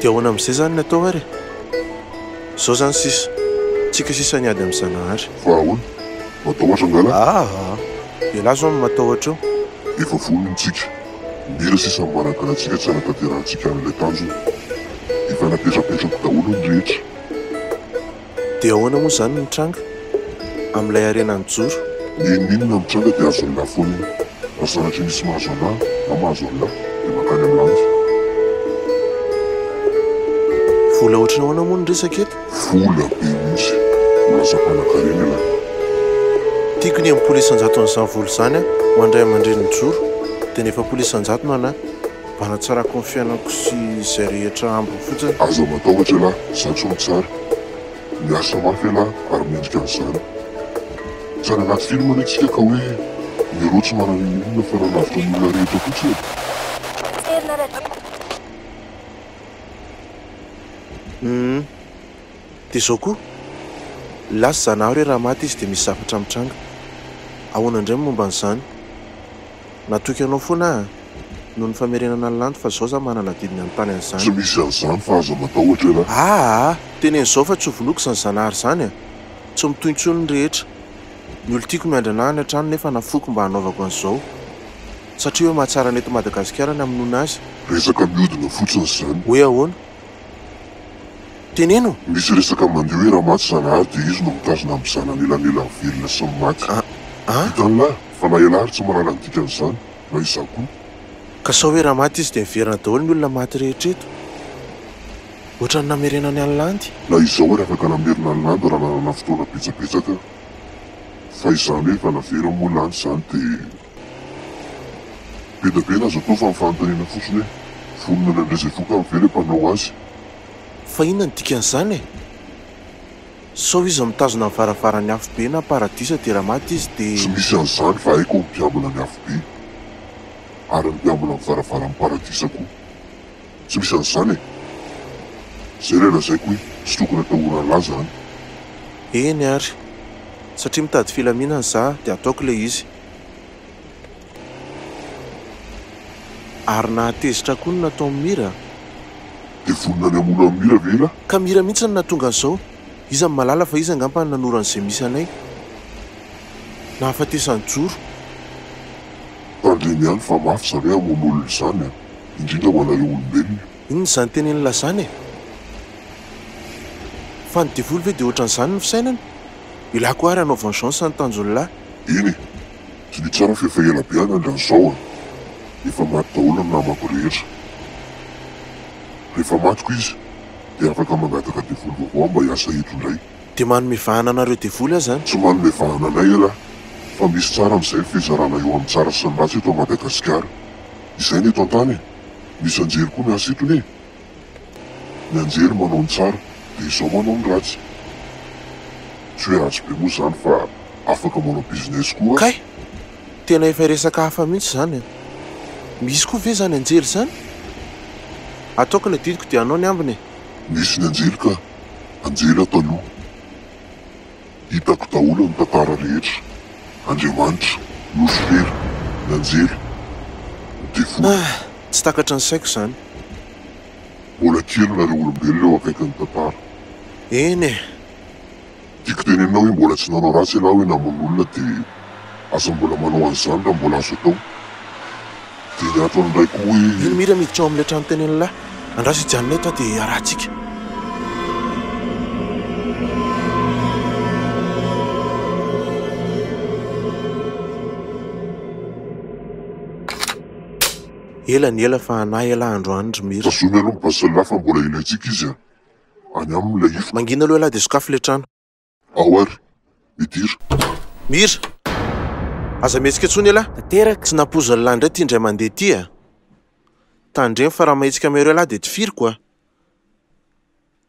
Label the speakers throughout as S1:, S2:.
S1: Dia ahoana amin'izay izany ny atao ary e? Izao izany sisa, tsika sisa ny ady amin'i Zanahary. Fa ahoana?
S2: Matahotra angalah? Aa!
S1: Ialahy izao no matahotra eo. Efa vonona
S2: isika. Mila sisa ny manankalatsika tsy hanatanterahantsika an'ilay tanjona. Efa napetrapetrako daholo ny rehetra.
S1: Dia ahoana moa izany no nitranga amin'ilay harena nijoro? Ny inon'inona mitranga
S2: dia azo Allah foana. Raha sanatria misy mahazo Allah na mahazo Allah dia mankany amin'ny lanitra.
S1: Vola ohatran'ny ahoana moa no resaka eto? Vola be mihitsy.
S2: Ho lasa mpanankarena ialahy.
S1: Tiako ny ampola isan-jaton'izany vola izany ho an-dRay aman-dReny nijoro, dia ny efapolo isan-jato no anà. Hanatsarako ny fiainako sy izay rehetra ambiny fotsiny. Aza matahotra ialahy,
S2: izaho tsy mahatsara. Miasa mafy ialahy ary mendrika an'izany. Tsy any anaty film anie tsika ka hoe ny euro tsy manana inon'inona fa raha lavitra ny olona rehetra fotsiny e. Uhm.
S1: Dia izao koa, lasa zanahary hoe raha maty izy dia misy zavatra mitranga. Ahoana indray ny momba an'izany? Natoky anao foana aho an! Noho ny famerenana ny landy fa izao za manana adidy ny hanontany an'izany. Tsy misy an'izany fa
S2: aza matahotra ialahy. Aa! Teneno izao fa tsy ho
S1: vonoiko izany zanahary izany an! Tsy mitohy intsony ny rehetra. Ny olon-tiako miandrana ahy any an-trano nefa nafoiko mba hanaovako an'izao. Satria hoe mahatsara ny eto Madagasikara ny hamonoana azy. Resaka miodina
S2: fotsiny izany. Hoe ahoana?
S1: Teneno! Misy resaka mandeha hoe
S2: Ramato Zanahary dia izy no mitazona amin'ny zanany elanelany velona sy ny maty. Ah ah. Vitan'lah fa na ialahy ary tsy mahalala ny dikan'izany, na izaho koa. Ka sao hoe
S1: raha maty izy dia miverina daholo ny olona maty rehetra eto? Ohatran'ny namerenany an'i Landy. Na izaho ary afaka
S2: namerina an'i Landy raha nanana fotoana betsabetsaka. Fa izany hoe efa naveriny moa Landy izany dia. Be da be n'aza atao fa ny fanontaniana fotsiny hoe vonona ny handray izay vokany ve ilay mpanao azy? Fa
S1: inona ny dikan'izany e? Sao izy mitazona ny varavaran'ny afobe na paradisa dia raha maty izy dia. Tsy misy an'izany fa
S2: haiko ny mpiambina ny afobe ary ny mpiambina ny varavaran'ny paradisa koa. Tsy misy an'izany e! Izay ilay lazaiko hoe tsy tokony atahorana laza any. Eny
S1: ary! Satria mitady filaminana izaho dia ataoko ilay izy. Ary nahatezitra koa ny nataon'i Mira. Dia
S2: vonona ny hamono an'i Mira ve ialahy? Ka Mira mihitsy no nahatonga
S1: an'izao. Iza no mahalala fa iza angamba no nanoro an'izay misy anay. Nahafatesany joro. Tandremo
S2: ihany fa mafy izany hoe hamono olona izany an! Indrindra ho anareo olombelona. Inona izany tenenin'lah
S1: izany e? Fa ny devoly ve dia ohatran'izany ny fisainany? Ilah koa ary hanao vengeance ny tanjon'lah. Eny e,
S2: tsy ny tsara f'efa ela be an'andra an'izao a! Efa maty daholo ny namako rehetra. Rehefa matiko izy dia afaka mangataka devoly vaovao mba hiasa eto indray. Dia manome vahana
S1: anareo devoly aza an! Tsy manome vahana anay
S2: elah fa misy tsara amin'izay ny fizarana eo amin'ny tsara sy ny ratsy eto Madagasikara. Izay ny eto an-tany e! Misy anjery koa miasa eto ne. Ny anjery manao ny tsara de izao manao ny ratsy. Tsy hoe ratsy be moa zany fa afaka manao business koa. Kay!
S1: Tena efa resaka hafa mihitsy izany an! Misy koa ve izany anjely izany? Ataoko ny adidiko dia anao ny ambiny e! Misy ny anjely
S2: ka! Anjely ato aloha. Hitako daholo ny tantara rehetra. Andriamanitra, Nosy Fery, ny anjely, ny devoly. Ah! Tsy takatry ny
S1: saiko izany.
S2: Mbola kely nareo olombelona eo akaikin'ny tantara. Eny e! Tiako tenenina hoe mbola tsy nanao ratsy ialahy hoe namono olona dia Aza mbola manao an'izany raha mbola azo atao. Dia ny antony indray koa hoe. Eny Mira miditra ao amin'ilay
S1: trano teny an'la. Andraso i Janina eto aho dia iarahantsika. Ela ny ela fa hanahy ialahy androany ry Mira. Tazomy aloha ny basy ialahy fa
S2: mbola ilaintsika izy any aminy ilay ifko. Mangina aloha ialahy dia sokafy ilay
S1: trano. Ao ary,
S2: midira. Mira!
S1: Aza mihetsika intsony elah! Tanteraka! Tsy nampoizin'i
S3: Lahy indray ity
S1: indray mandeha ity a! Tandremo fa raha mahetsika amin'iareo Lahy dia tifiriko a!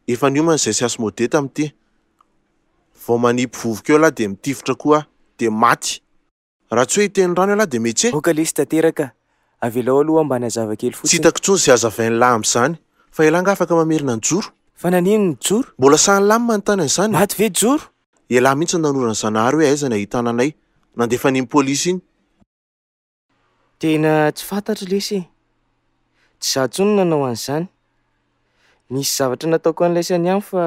S1: Efa niomana izay sy asmodee tamin'ity. Vao manipy vovoka eo Lahy dia mitifitra koa aho, dia maty! Raha tsy hoe hiteny rano ialahy dia metse. Aoka lesy tanteraka.
S3: Avelao aloha aho mba hanazava kely fotsiny. Tsy hitako intsony izay
S1: hazavain'i Lahy amin'izany. Fa ialahy angaha afaka mamerina an'i Joro? Fa nanino ny
S3: Joro? Mbola sahin'i Lahy ny manontany
S1: an'izany. Maty ve Joro?
S3: Ialahy mihitsy no
S1: nanoro an'i Zanahary hoe aiza ny ahitana anay. Nandefa an'iny polisy iny.
S3: Tena tsy fantatro lesy e. Tsy izaho intsony no nanao an'izany. Nisy zavatra nataoko an'ilay sainy ihany fa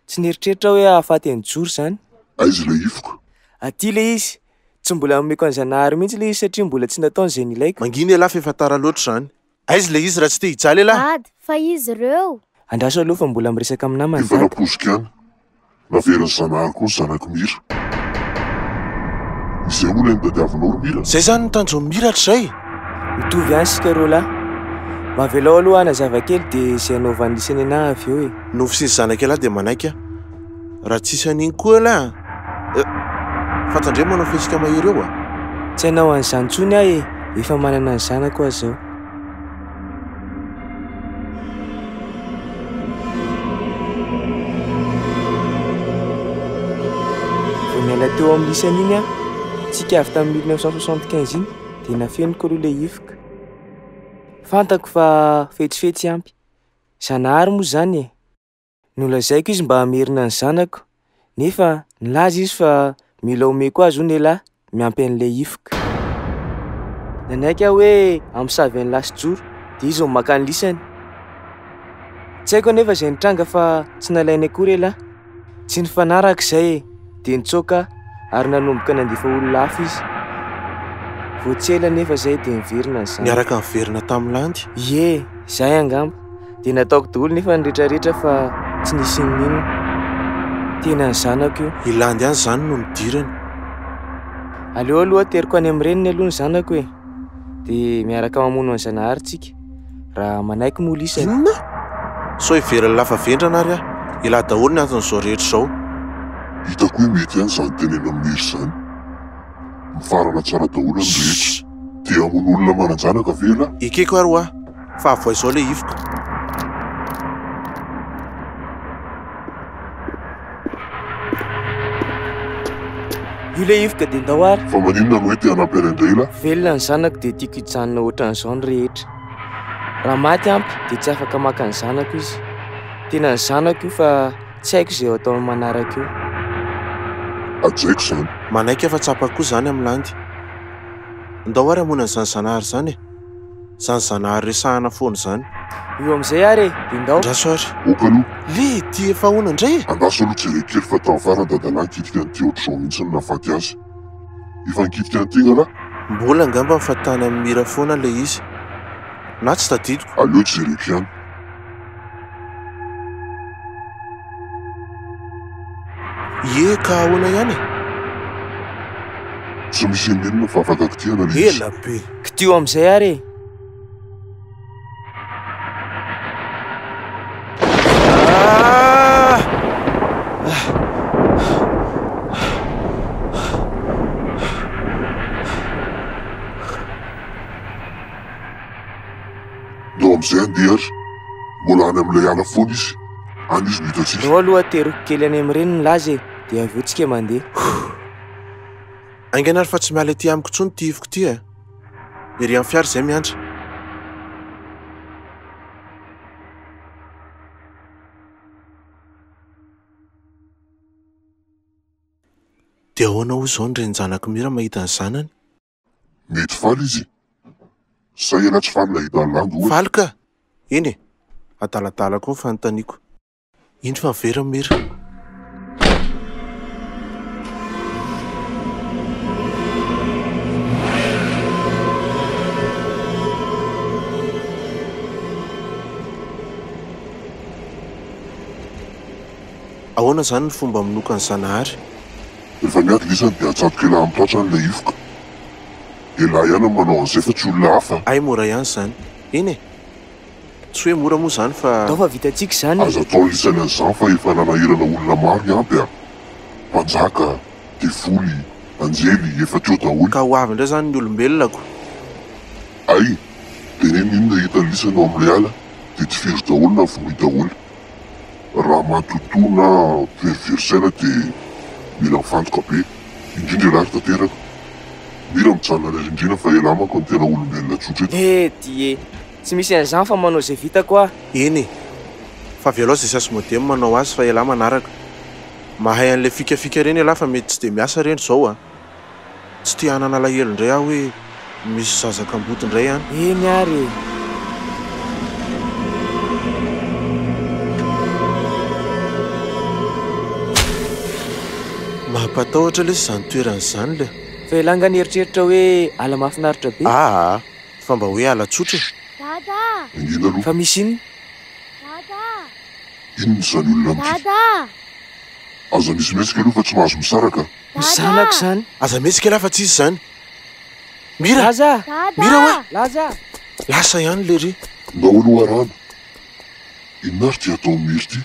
S3: tsy nieritreritra aho hoe hahafaty an'i Joro izany. Aiza ilay hifoka?
S2: Aty ilay izy.
S3: Tsy mbola nomeko an'i Zanahary mihitsy ilay izy satria mbola tsy nataony izay nilaiko. Mangina ialahy fa efa tara
S1: loatra izany. Aiza ilay izy raha tsy te hijaly ialahy? Dada, fa izy
S4: ireo? Andraso aloha fa mbola
S3: miresaka amin'ny namany dada. Efa nampoiziko ihany.
S2: Naverin'i Zanahary koa ny zanak'i Mira. Izay hono ilay nitadiavinao ry Mira? Izay izany ny tanjon'i Mira
S1: hatrizay e! Mitovy ihany
S3: isika roa lahy. Mba avelao aloha hanazava kely dia izay hanaovan'i Lisy an'i Anah avy eo e! Nofy sy ny zanak'i Anah
S1: dia manaiky aho. Raha tsisy an'iny koa Anah a! Eh! Fa tandremo manao fihetsika mahery eo a! Tsy hanao
S3: an'izany intsony aho e! Efa manana ny zanako aho izao. Vao niala teo amin'ny lisany iny aho, tsika avy tamin'ny mille neuf cent soixante quinze iny, dia nafeniko aloha ilay hifoka. Fantako fa fetsifetsy ampy. Zanahary moa izany e! Nolazaiko izy mba hamerina ny zanako, nefa nilaza izy fa mila omeko azy hono elah miampy an'ilay hifoka. Nanaiky aho hoe hamosavy an'i Lasijoro, dia izy no maka ny lisany. Tsy haiko anefa izay nitranga fa tsy nalainy akory elah. Tsy nifanaraka izay e! dia nitsoaka ary nanomboka nandefa olona hafa izy. Vao tsy ela anefa izay dia niverina ny zanany. Niaraka niverina tamin'ny
S1: landy? Ie, izay
S3: angamba. Dia nataoko daholo nefa ny rehetrarehetra fa tsy nisy nininona. Tena ny zanako io. I landy ihany izany no
S1: nidirany.
S3: Aleo aloha ateriko any amin'ny reniny aloha ny zanako e. Dia miaraka mamono an'i Zanahary tsika. Raha manaiky moa lisa e. Inona?
S1: Sao heveran'ny lafa vendrana ary aho. Elah daholo ny anton'izao rehetra izao. Hitako
S2: hoe mety ihany izany tenenan'i Mary izany. Mifarana tsara daholo ny rehetra. Te hamono olona manan-janaka ve ialahy? Ekeko ary hoa,
S1: fa avohay izao ilay hifoka.
S3: Io le ivoka dia ndao ary. Fa maninona no hoe te hanampy
S2: an'i Andreila? Velona ny zanako dia
S3: tiako hijanona ohatran'izao ny rehetra. Raha maty ampy dia tsy afaka maka ny zanako izy. Tena ny zanako io fa tsy haiko izay ho ataony manaraka eo.
S2: Hajaiko izany. Manaiky fa tsapako
S1: koa izany amin'i Landy. Ndao ary hamoana an'izany Zanahary izany e. Zany zanahary resahana foana zany. Io amizay ary
S3: e, dia ndao. Andraso ary. Ok aloha.
S1: Le
S2: dia efa
S1: ahoana indray e? Andraso aloha jereo kely
S2: fa tany farany dadalahy nikitika an'i Theo Drao mihitsy no nahafaty azy. Efa nikitika an'i Tegna lahy? Mbola angamba fa
S1: tany amin'i Mira foana ilay izy. Na tsy tadidiko. Aleo jereko ihany. Ie ka ahoana ihany e?
S2: Tsy misy inon'inona fa afaka kitihana ilay izy. Ela be.
S3: Kdio
S2: amin'izay ary e! Aleo aloha ateriko kely
S3: any amin'ireny ny laza e, dia avy eo tsika mandeha.
S1: Haingana ary fa tsy miala ety amiko intsony ity ifiko ity e! Ery amin'ny fiara izay miantra. Dia ahoana hoy izao ny renin-janak'i Mira mahita ny zanany? Mety
S2: faly izy. Sa ianao tsy faly nahita an'i Landy ohatra? Faly ka! Eny
S1: e! Adaladala koa ny fanontaniako. Indro fa very ny mur. Ahoana izany ny fomba manokan'i Zanahary? Rehefa
S2: miady ilay izy any dia atsatoka ela amin'ny tratra ilay hifoka. Ialahy ihany no manao an'izay fa tsy olona hafa. Hay mora ihany izany.
S1: Eny e! Tsy hoe mora moa izany fa. Atao fa vitantsika izany e!
S3: Azo atao lisany an'izany fa
S2: efa nanahirana olona maro ny ampy a! Mpanjaka, devoly, anjely, efa teo daholo. Ka ho avy indray izany ny
S1: olombelonako.
S2: Ay! Dia neny inona hitan'ny lisany ao amin'ilay ala dia tifiro daholo na vonoy daholo. Raha matotoa na verivery saina dia mila mifantoka be, indrindra ialahy ry tanteraka. Mila mijanona any arindriana fa ialahy manko no tena olombelona tsotra eto. He! Dié! Tsy
S3: misy an'izany fa manao izay vitako aho. Eny e!
S1: Fa avy alao izay sasy modem manao azy fa elah manaraka. Mahay an'ilay fikafika ireny elah fa mety tsy dia miasa ireny izao a! Tsy te hanana alahelo indray aho hoe misy zaza kamboty indray an! Eny ary e! Mampatahotra lesy izany toerana izany le! Fa elah nga nieritreritra
S3: hoe ala mahafinaritra be? Aa! Fa mba
S1: hoe halatsotra e! Dada a! Mangina
S2: aloha. Fa misy inona?
S3: Dada
S2: a! Inona izany olona amiko? Dada a! Aza mihesihmesika aloha fa tsy mahazo misaraka a! Ny zanako izany!
S3: Aza mihesika lah fa tsy
S1: izy izany! Mira! Laza a! Dada a!
S3: Mira hoa! Laza a! Lasa ihany
S1: lery! Ndao aloha Rano!
S2: Inona ary ity ataon'i Mira ity?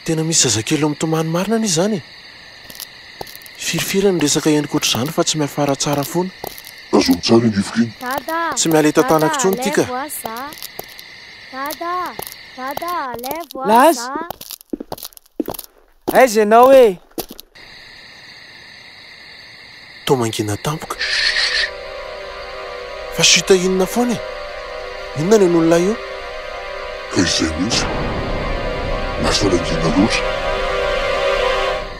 S2: Tena misy
S1: zazakely mitomany marina anie izany e! Firifiry ny resaka eny koatr'izany fa tsy miafara tsara foana. Tazony tsara
S2: iny rivoka iny. Dada, Tsy miala eto dada
S1: an-tanako intsony ity ka. alevo ah za. Dada, dada
S3: alevo ah Laza! za. Aiza ianao e?
S1: Toa mangina tampoka. Shhh! Fa chute inona foana e? Inona no henon'ilay eo? Ka
S2: izay mihitsy. Lasa nangina loatra.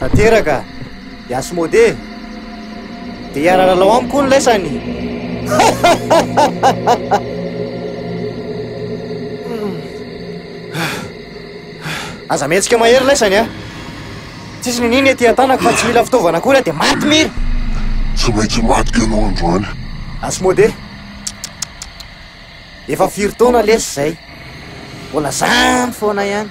S4: Tanteraka, i Asmodee dia hiara-lalao amiko hono laisany. Aza mihetsika mahery laisany a. Tsisy ny niny ety an-tanako fa tsy mila fitaovana akory aho dia maty mira. Tsy maintsy
S2: maty ianao androany. Asmode.
S4: Efa firy taona lesy izay. Mbola zany foana ihany.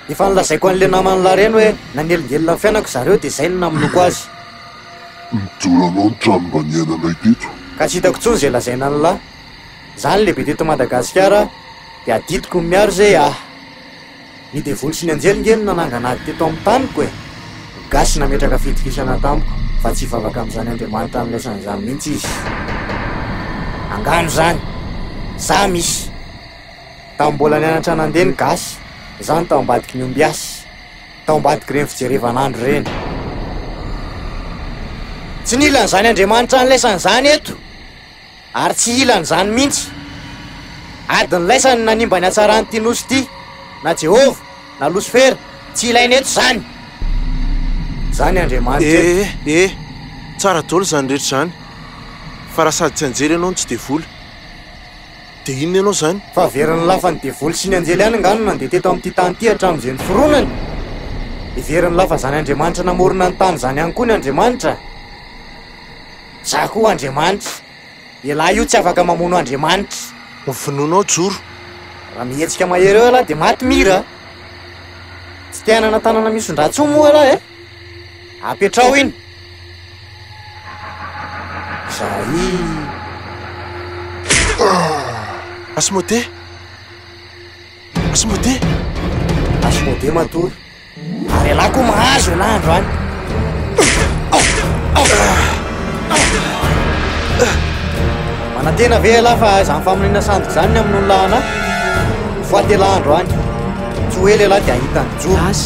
S4: Efa nolazaiko an'ilay naman'i Laren hoe nanelingelina ny fiainako zareo dia izay no namonoako azy. Mijoro
S2: anao ny trano mba niainanay teto. Ka tsy hitako intsony izay
S4: lazaina an'i La. Za ny lehibe teto Madagasikara dia adidiko ny miaro izay ahy. Ny devoly sy ny anjely nge no nanangana ady teto amin'ny taniko e! Gasy nametraka fitokisana tamiko fa tsy hivavaka amin'izany Andriamanitra niraisana izany mihitsy izy. Angano izany! Za misy! Tao mbola nianatra nandeha ny gasy, zany tao ambadiky ny ombiasy, tao ambadiky ireny fijerevan'andro ireny. Tsy nila an'izany Andriamanitra nilaisany izany eto, ary tsy hila an'izany mihitsy. Ady nilaisany nanimba ny hatsaran'ity nosy ity, na Jehovah, na Losifera, tsy ilaina eto izany. Izany Andriamanitra eto. Eh eh, tsara
S1: daholo izany rehetra izany, fa raha sady tsy anjely ianao no tsy devoly. Dia inona ianao izany? Fa very nolafa ny
S4: devoly sy ny anjely ihany angaha no nandeha teto amin'ity tany ity hatramin'izay niforonany? Dia very nolafa izany Andriamanitra namorona ny tany izany ihany koa ny Andriamanitra? Izaho koa Andriamanitra. Ialahy io tsy afaka mamono Andriamanitra. Ho vonoina ao
S1: Joro. Raha mihetsika
S4: mahery eo ialahy dia maty Mira a! Tsy te hanana tanana misondrantsony moa ialahy e! Apetraho iny. Zahii.
S1: Asmodee. Asmodee.
S4: Asmodee matory. Ary ialahy koa mahazo ialahy andro any. Manantena ve ialahy fa izany faminaniana sandoka izany ny amin'ny olona anà? Ho faty ialahy andro any. Tsy ho ela ialahy dia hahita ny joa. Azy.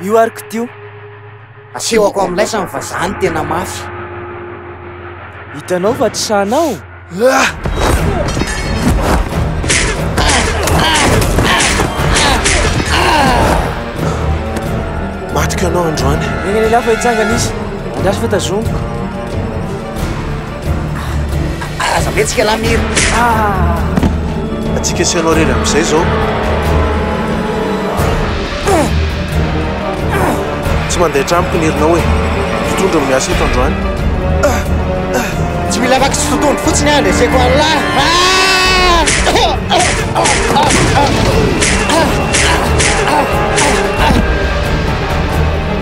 S4: Io ary kodio.
S3: Asehoko
S4: amin'ny laisany fa za no tena mafy. Hitanao
S3: fa tsy sahy anao?
S1: Matiko ianao androany. Eny lehilahy fa hitsangana
S3: izy. Andraso fa tazomiko.
S4: Aza mihetsika lahy Mira ah!
S1: Atsika sy ianao irery amin'izay izao Tsy mandeha an-tranoko ny herinao e Mpitondra no miasa eto androany Tsy
S4: mila vaky tsy totohondry fotsiny aho, leseko an'lah ah!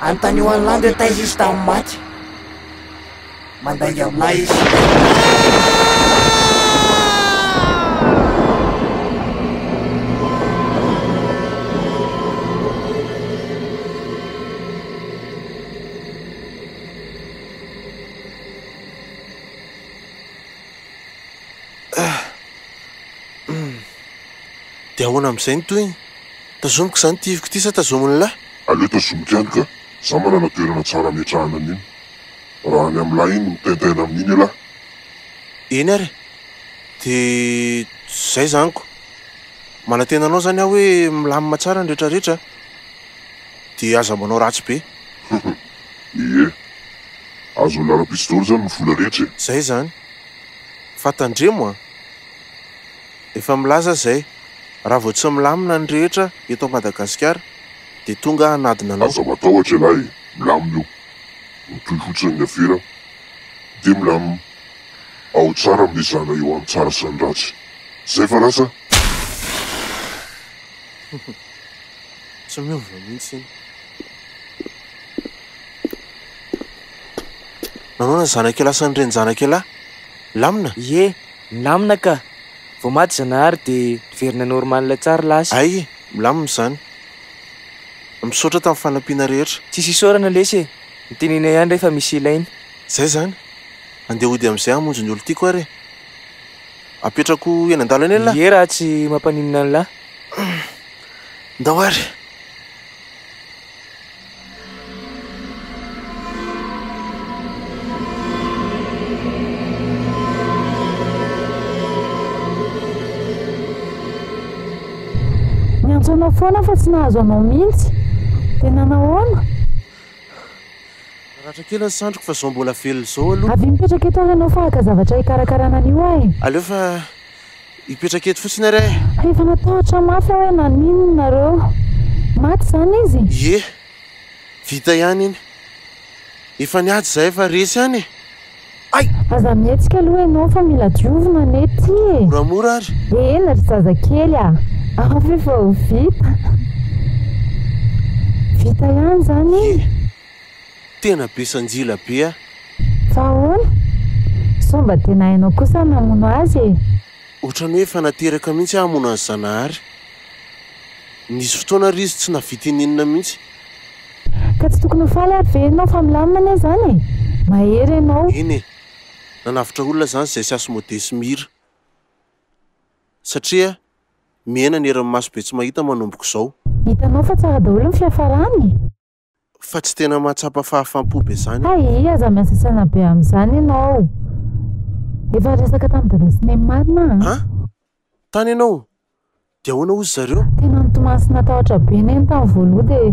S4: Anontanio an'i Landy hoe taiza izy tamin'ny maty. Mandainga amin'ahy izy.
S1: Dia ahoana amin'izay ny tohiny? Tazomiko izany ity ivoko ity sa tazomin'lah? Aleo tazomiko ihany
S2: ka, za manana toerana tsara ametrahana an'iny. Raha ny amin'lah iny mitaintaina amin'iny elah. Eny
S1: ary e! De zay izany ko! Manantena anao izany aho hoe milamina tsara ny rehetra rehetra a! De aza manao ratsy be.
S2: Ie! Azon'ny lalam-pitsy daholo izany ny vola rehetra e! Zay izany!
S1: Fa tandremo a! Efa milaza zay, raha vao tsy milamina ny rehetra eto Madagasikara dia tonga hanadina anao. Aza matahotra ialahy
S2: e, milamina io, mitohy fotsiny ny afera dia milamina, ao tsara ny mizana eo any tsara sy ny ratsy, zay fa lasa.
S1: Tsy miova mihitsy iny. Nanao na zanak'ialahy sy ny renin-janak'ialahy lamina? Ie.
S3: Milamina ka! Vao maty Zanahary dia niverina normal tsara lasa. Hay e, milamina
S1: izany. Misaotra tamin'ny fanampiana rehetra. Tsisy isaorana lesy e!
S3: Mitenena ihany re fa misy ilaina. Zay zany.
S1: Andeha hody amizay hamonjy ny olon-tiako ary e! Apetrako eny an-dala eny elah! Ie raha tsy mampaninona
S3: anlah.
S1: Ndao ary!
S5: Niantso anao foana aho fa tsy nahazo anao mihitsy. Dia nanahoana?
S1: Naratra kely ny sandriko fa izao mbola velona izao aloha. Avia mipetraka eto ary ianao
S5: fa haka zavatra hikarakarana an'io aho e. Aleo fa
S1: Hipetraka eto fotsiny ary aho e. Efa natahotra
S5: mafy aho hoe naninona nareo. Maty izany izy? Ie.
S1: Vita ihany iny. Efa niady izahay fa resy ihany e. Ay! Aza mihetsika
S5: aloha ianao fa mila diovina anie ity e. Moramora ary.
S1: Eny ry zazakely
S5: a! Afo efa ho vita. Vita ihany izany iny? Ie.
S1: Tena be sanjila be ah. Fa ahoana?
S5: Sao mba tena hainao kosa ny namono azy e? Otrany hoe efa
S1: nateraka mihitsy aho hamono an'i Zanahary. Nisy fotoana ary izy tsy navita ininona mihitsy. Ka
S5: tsy tokony ho faly ary ve ianao fa milamina anie izany e? Mahery ianao. Eny e,
S1: nanavotra olona izany izay sy Asmodee sy Mira. Satria miaina ny herin'ny maso be tsy mahita manomboka izao. Hitanao fa tsara
S5: daholo ny fiafarany e. Fa
S1: tsy tena mahatsapa fahafam-po be zany aho. Hay aza miasasana
S5: be amin'izany ianao. Efa resaka tamin'i Dada sy Neny marina an! An?
S1: Tany ianao? Dia ahoana hozy zareo? Tena nitomany sy
S5: natahotra be Neny tamin'ny voaloha dia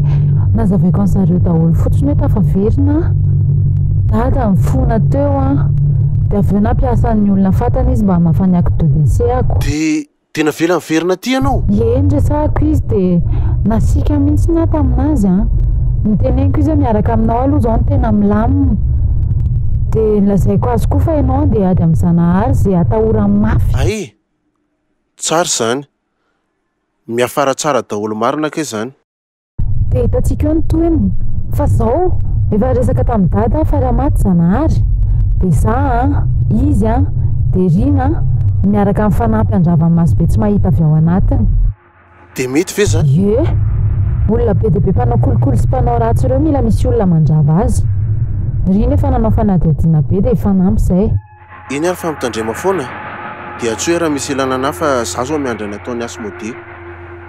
S5: nazavaiko an'i zareo daholo fotsiny hoe tafaverina aho. Dada nifona teo an! Dia avy eo nampiasa ny olona fantany izy mba hamafa ny acte de décès-ko. Dia Dia navela
S1: niverina aty ianao? Ie, niresahako izy
S5: dia nasiaka mihitsy ny ahy tamin'azy an! Noteneniko izy hoe miaraka aminao aloha izao no tena milamina. Dia nolazaiko azy koa fa ianao handeha hiady amin'i Zanahary izay atahorany mafy. Hay!
S1: Tsara izany. Miafara tsara daholo marina kay izany. Dia
S5: hitantsika eo ny tohiny. Fa zao, efa resaka tamin'i dada aho fa raha maty Zanahary, dia za an, izy an, dia rina an, miaraka amin'ny fanampi handrava ny maso be tsy mahita avy ao anatiny. Dia mety
S1: ve izany? Ie!
S5: Olona be dia be mpanao kolikoly sy mpanao ratsy ireo mila misy olona mandrava azy. Rina efa nanao fanadihadiana be dia hifanampy izay. Eny ary fa
S1: mitandrema foana e! Dia tsoy raha misy ilana anah fa za zao miandry ny ataon'i Asmodee.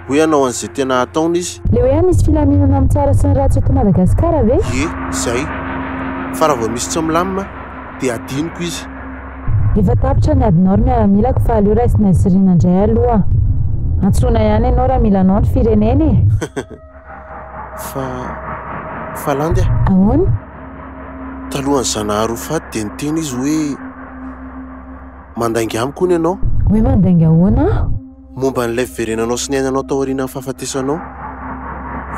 S1: Hoe hanao an'izay tena hataony izy. Le hoe any misy filaminana
S5: amin'ny tsara sy ny ratsy eto Madagasikara ve? Ie, zay.
S1: Fa raha vao misy tsy milamina dia hadinoko izy. Efa
S5: tapitra ny adinao ry miaramilako fa aleo raisinay sy rina ndray aloha. Antsoina ihany ianao raha mila anao ny firenena e! fa
S1: fa landy ah. Ahoana? Talohan'i Zanahary ho faty dia niteny izy hoe mandainga amiko hono ianao. Hoe mandainga ahoana
S5: aho? Momba an'ilay
S1: fiverenanao sy ny ainanao taorianan'ny fahafatesanao.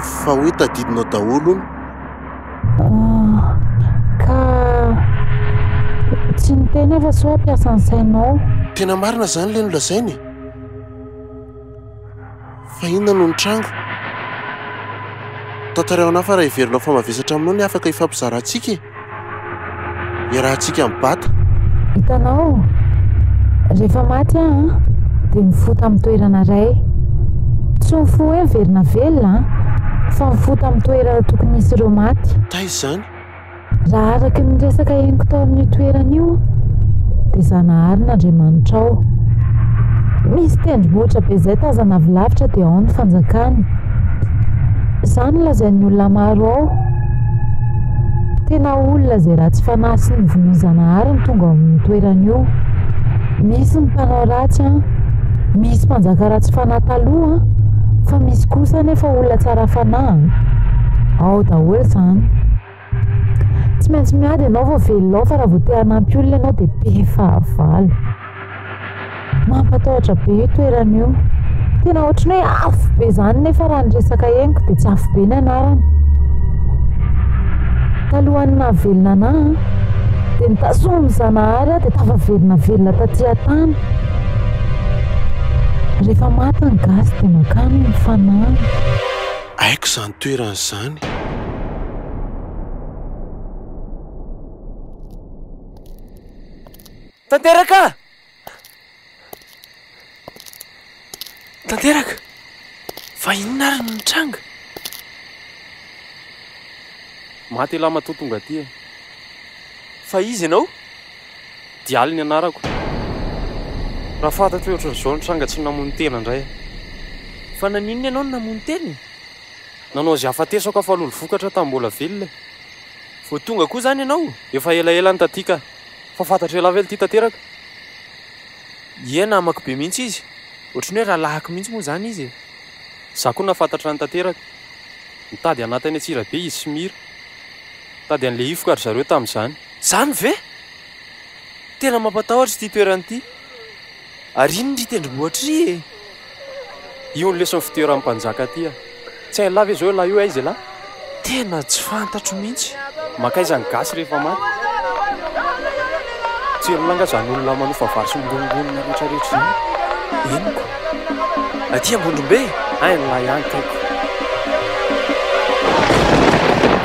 S1: Fa hoe tadidinao daholo hono. Ah,
S5: ka tsy niteny aho fa sao hampiasa ny sainao.
S1: Tena
S5: marina izany
S1: ilay nolazainy e! Fa inona no nitranga? Tantarao anah fa raha heverinao fa mavesatra aminao ny afaka hifampizarantsika e! Iarahantsika mibata. Hitanao,
S5: rehefa maty aho an, dia mifoha tamin'ny toerana iray. Tsy mifoha hoe miverina velona an, fa mifoha tamin'ny toerana tokony hisy ireo maty. Taiza izany?
S1: Raha araka
S5: ny resaka henoko tao amin'io toerana io dia Zanahary ny Andriamanitrao. Misy tendrombohitra be izay tazana avy lavitra dia ao ny fanjakana. Izany lazain'ny olona maro ao. Tena olona izay ratsy fanahy sy ny vonon-Zanahary no tonga ao amin'ny toerana io. Misy ny mpanao ratsy an. Misy mpanjaka ratsy fanahy taloha fa misy kosa anefa olona tsara fanahy. Ao daholo izany. Tsy maintsy miady ianao vao velona ao fa raha vao te hanampy olona ianao dia be fahavalo. Mampatahotra be io toerana io. Tena ohatran'ny hoe afo be izany nefa raha ny resaka henoko dia tsy afo be ny anarany. Talohan'ny nahavelona anà dia nitazona ny Zanahary aho dia tafaverina velona taty an-tany. Rehefa maty ny gasy dia mankany ny fanahy. Haiko
S1: izany toerana izany.
S3: Tanteraka! Tanteraka! Fa inona ary no nitranga?
S6: Maty elah matoa tonga aty e! Fa iza ianao? Dialy ny anarako. Raha fantatro hoe ohatran'izao ny tranga tsy namono tena indray aho. Fa
S3: naninona ianao no namono tena e? Nanao izay
S6: hahafatesako aho fa lolo vokatra tamin'ny mbola velona e! Vao
S3: tonga koa izany ianao? Efa elaela no taty
S6: ka! Fa fantatr'elah ve ity tanteraka?
S3: Ie namako be mihitsy izy, ohatran'ny hoe rahalahiko mihitsy moa izany izy e! Izaho koa
S6: nahafantatrany tanteraka. Nitady anahy tany Antsirabe izy sy Mira. Nitady an'i Lehifoka ry zareo tamin'izany. Izany ve?
S3: Tena mampatahotra ity toerana ity. Ary iny ry tendrombohitra ry e!
S6: Io ny leson'ny fitoeran'ny mpanjaka aty a! Tsy hain'ny lahy ve izao io lahy io aiza ialahy? Tena tsy
S3: fantatro mihitsy. Mankaiza ny gasy
S6: rehefa maty? Tselona nga zany olona manofa vary sy mirongonona retraretra zany? Henoko.
S3: Aty Ambondrombe? Hay ny lahy any
S6: tompoko.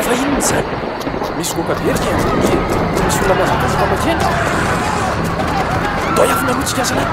S3: Fa inona izany? Misy goaka be
S6: ry Kenja. Tsy misy olona mihazakazaka makeny. Andao
S3: hiafina aloha tsika zalahy.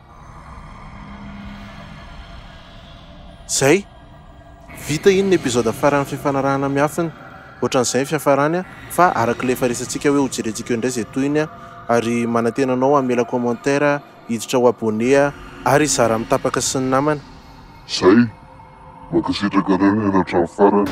S1: Zay! Vita iny ny episode faran'ny fifanarahana miafiny. Ohatran'izay ny fiafarany a! Fa arak'ilay efa resatsika hoe hojerentsika eo indray izay tohiny a! Ary manantena anao hamela commentaire, hiditra ho abonné a! Ary hizara amin'ny tapaka sy ny
S2: namana. Zay! Mankasitraka
S1: anareo
S2: nihaino hatramin'ny
S1: farany.